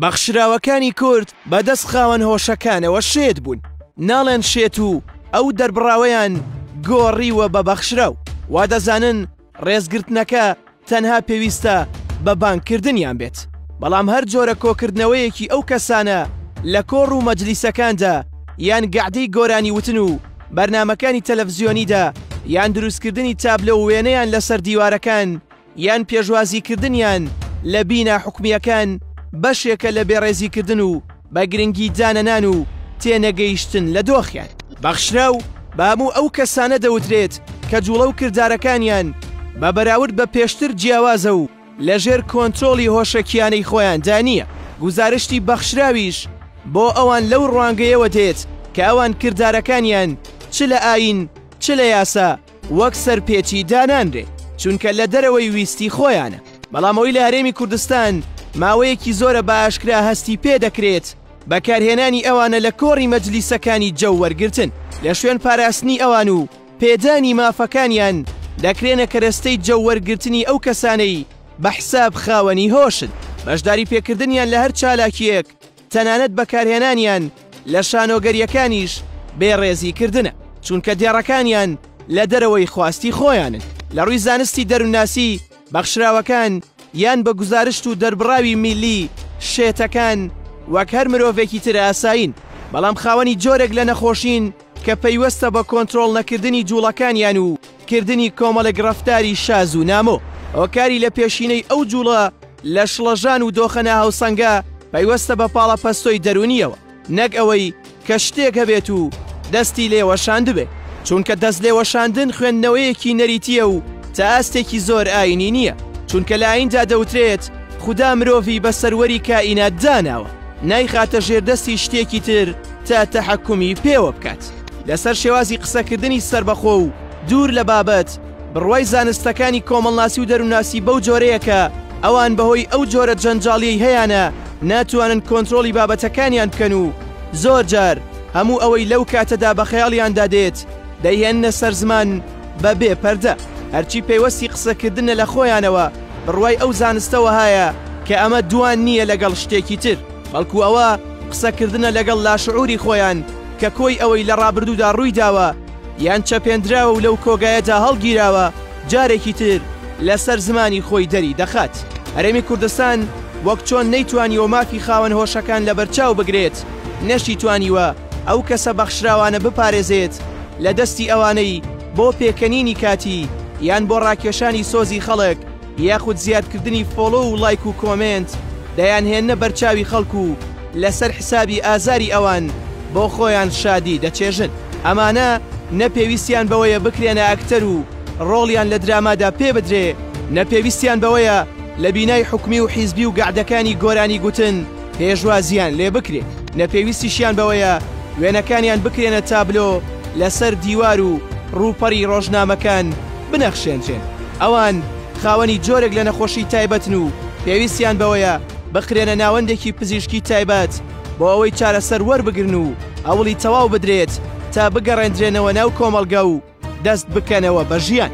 بەخشراوەکانی کورد بە دەست خاوەن هۆشەکانەوە شێت بوون ناڵێن شێت و ئەو دەربڕاوەیان گۆڕیوە بە بەخشراو وا دەزانن ڕێزگرتنەکە تەنها پێویستە بە بانگکردنیان بێت بەڵام هەر جۆرە کۆکردنەوەیەکی ئەو کەسانە لە کۆڕ و مەجلیسەکاندا یان گەعدەی گۆرانی وتن و بەرنمەکانی تەلەڤزیۆنیدا یان دروستکردنی تابلە و وێنەیان لەسەر دیوارەکان یان پێشوازیکردنیان لە بینا حکومییەکان بەشێکە لە بێڕێزیکردن و بە گرنگی دانەنان و تێنەگەیشتن لە دۆخیان. بەخشراو بە هەموو ئەو کەسانە دەوترێت کە جوڵە و کردارەکانیان بە بەراورد بە پێشتر جیاوازە و لەژێر کۆنترۆڵی هۆشەکییانەی خۆیاندا نییە. گوزارشتی بەخشراویش بۆ ئەوان لەو ڕوانگەیەوە دێت کە ئەوان کردارەکانیان چ لە ئایین چ لە یاسا وەک سەرپێچی دانانرێ چونکە لە دەرەوەی ویستی خۆیانە بەڵام ئەوی لە هەرێمی کوردستان ماوەیەکی زۆرە بە ئاشکرا هەستی پێ دەکرێت بەکارهێنانی ئەوانە لە کۆڕی مەجلیسەکانی جەو وەرگتن لە شوێن پاراستنی ئەوان و پێدانی مافەکانیان دەکرێنە کەرەستەی جەو وەرگرتنی ئەو کەسانەی بە حساب خاوەنی هۆشن بەشداری پێکردنیان لە هەر چالاکیەک تەنانەت بەکارهێنانیان لە شانۆگەرییەکانیش بێ ڕێزی کردنە، چونکە دێڕەکانیان لە دەرەوەی خواستی خۆیانن لە ڕووی زانستی دەروونناسی، بەخشراوەکان یان بە گوزارشت و دەربڕاوی میللی، شێتەکان وەک هەر مرۆڤێکی تر ئاسایین، بەڵام خاوەنی جۆرێک لە نەخۆشین، کە پەیوەستە بە کۆنترۆڵ نەکردنی جووڵەکانیان و کردنی کۆمەڵێک ڕەفتاری شاز و نامۆ هۆکاری لە پێشینەی ئەو جووڵە لە شڵەژان و دۆخە ناهاوسەنگە پەیوەستە بە پاڵەپەستۆی دەروونیەوە نەک ئەوەی کە شتێک هەبێت و دەستی لێ وەشاندبێ چونکە دەست لێ وەشاندن خوێندنەوەیەکی نەریتیە و تا ئاستێکی زۆر ئاینی نییە چونکە لە ئایندا دەوترێت خودا مرۆڤی بە سەروەری کائینات داناوە نایخاتە ژێردەستی شتێکی تر تا تەحەکومی پێوە بکات لەسەر شێوازی قسەکردنی سربەخۆ و دوور لە بابەت بڕوای زانستەکانی کۆمەڵناسی و دەروناسی بەو جۆرەیەکە ئەوان بەهۆی ئەو جۆرە جەنجاڵیەی هەیانە ناتوانن کۆنتترۆلی بابەتەکانیان بکەن و زۆر جار هەموو ئەوەی لەو کاتەدا بە خەیاڵیاندا دێت دەیهێنە سەر زمان بە بێ پەردە هەرچی پەیوەستی قسەکردنە لە خۆیانەوە بڕوای ئەو زانستە وەهایە کە ئەمە دووان نییە لەگەڵ شتێکی تر، بەڵکو ئەوە قسەکردنە لەگەڵ لاشعوری خۆیان کە کۆی ئەوەی لە ڕابردوودا ڕووی داوە یان چەپێندراوە و لەو کۆگایەدا هەڵگیراوە جارێکی تر لەسەر زمانی خۆی دەری دەخات. هەرێمی کوردستان وەک چۆن نەیتوانیوە مافی خاوەن هۆشەکان لەبەرچاو بگرێت، نەشیتوانیوە ئەو کەسە بەخشراوانە بپارێزێت لە دەستی ئەوانەی بۆ پێکەنینی کاتی یان بۆ ڕاکێشانی سۆزی خەڵک یاخود زیادکردنی فۆڵۆ و ڵایک و کۆمێنت دەیانهێننە بەرچاوی خەڵک و لەسەر حسابی ئازاری ئەوان بۆ خۆیان شادی دەچێژن. ئەمانە نە پێویستیان بەوەیە بکرێنە ئەکتەر و ڕۆڵیان لە درامادا پێ بدرێ نە پێویستیان بەوەیە لە بینای حکومی و حیزبی و گەعدەکانی گۆرانی گوتن پێشوازییان لێ بکرێ نە پێویستیشیان بەوەیە وێنەکانیان بکرێنە تابلۆ لەسەر دیوار و ڕووپەڕی ڕۆژنامەکان بنەخشێنرێن ئەوان خاوەنی جۆرێک لە نەخۆشی تایبەتن و پێویستیان بەوەیە بخرێنە ناوەندێکی پزیشکی تایبەت بۆ ئەوەی چارەسەر وەربگرن و هەوڵی تەواو بدرێت تا بگەڕێندرێنەوە ناو کۆمەڵگە و دەست بکەنەوە بە ژیان.